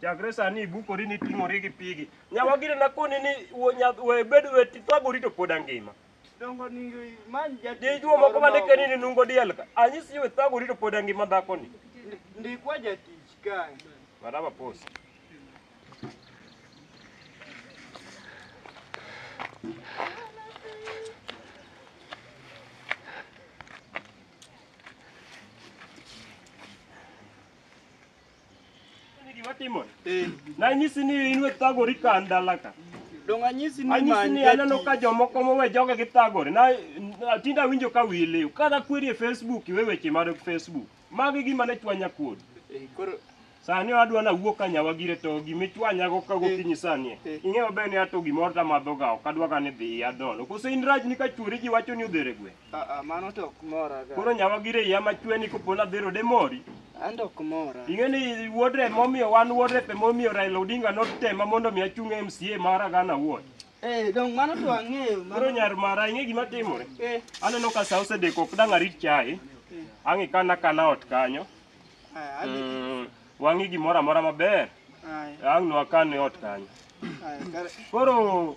Chakre sani ibukori ni ting'ori gi pigi. Nyawa gire na koni ni wo nyath we bed we ti thagori to pod angima. Dongo ni man ja Di juo moko ma ndike ni nungo diel ka. Anyisi we thagori to pod angima dhako ni. Ndikwa jatich kae. Maraba pos. Nanyisi ni in wethagori ka ndalaka. Donge anyisi ni Anyisi many ni aneno jatich? ka jomoko mowe joge githagore. Na na- tinde awinjo ka wiyi liw. Kada kweri e Facebook iwe weche mar Facebook. Magi gima ne chwanya kuod. Eh, koro Sani adwa na wuok ka nyawa gire to gimichwanya go ka gokinyi sani. e. Eh. Ing'eyo be ni ato gimoro ta madho ga ok adwa ga ni dhi adol. Kose in raj ni ka chwori ji wacho ni odhere gwe. Aa, mano to ok mora ga. Koro nyawa gire iya machwe ni kopo nadhero de mori. An to ok mora. Ing'e ni wuod rep momiyo wan wuod rep momiyo Raila Odinga notema mondo mi achung' e MCA mara gana wuod. Eh, dong mano to ang'eyo. Koro Mano nyar mara ing'e gima timore. eh, Aneno ka sa osedeko ok dang' arit chae. Ang' ikana kana ot kanyo. ah, ali- Mm, Wang'i gimoro amora maber. ah, Ang' no akan e ot kanyo. ah, kare- Koro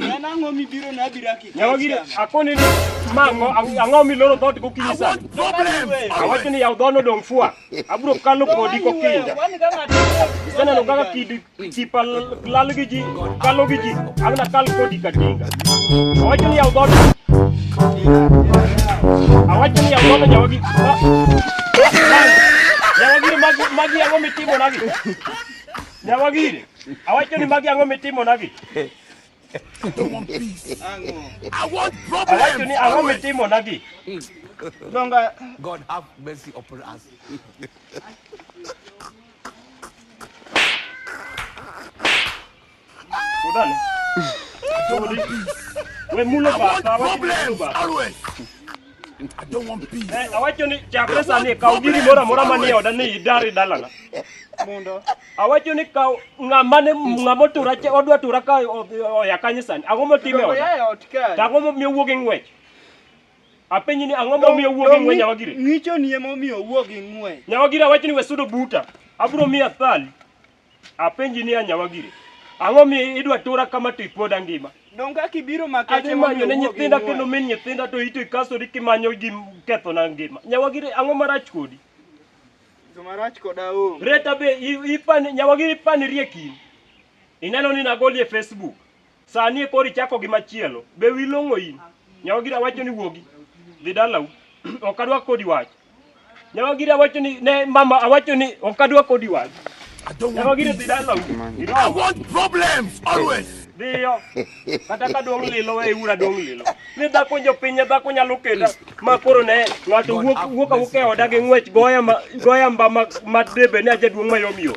En ang'o mibiro na abira kik. Yawa gire akoni ni mango ang'o miloro dhoot gokinyi sana. Awacho ni yaw dhono dong' fua. Abiro kalo kodi kokinja. Iseneno kaka kidi chipa lal gi ji kalo gi ji. Abina kal kodi katinga. Awacho ni yaw dhono. Awacho ni yaw dhono yawa gi. Yawa gire magi magi ang'o mitimo nagi. Yawa gire. Awacho ni magi ang'o mitimonagi? Awacho ni ang'o mitimonagi? Donga. God have mercy upon us. Sudani. Sudi. We mulo bata, we mulo bata. I don't want peace. Eh, awacho ni chakre sani kaw giri moro amora manie oda ni idari dalana. Mundo. Awacho ni kaw ng'ama ne ng'ama tura odwa tura ka oya kanyo sani. Ang'o motime oda? To ang'o momiyo wuog e ng'wech? Apenyi ni ang'o momiyo wuog e ng'wech nyawa giri? Ng'icho ni ema omiyo wuog e ng'wech. Nyawa giri awacho ni we sudo buta. Abro miya thali. Apenji ni anyawa gire. Ang'o mi idwa tura kama to ipoda ngima? Donge kaka ibiro maka Adhi manyo ne nyithinda kendo min nyithinda to ito ikasori kimanyo gi ketho na ngima. Nyawa gire ang'o marach kodi? Marach koda o. Reta be ipani nyawa gire ipani rieki. Ineno ni nagoli e Facebook. Sani e kori chako gi machielo. Be wi long'o in? Nyawagira wacho ni wuogi. Dhi dalau. ok adwa kodi wach. Nyawagira wacho ni ne mama awacho ni ok adwa kodi wach. I don't want Nyawagira dhi dalau. I want problems always. Dhiyo. Kata ka dong lilo we ura dong lilo. Ni dhako jo pinye dhako nyalo keda ma koro ne ng'ato wuok wuok awuok e oda gi ng'wech goya ma goya mba ma ma debe ni ajaduong' mayom yom.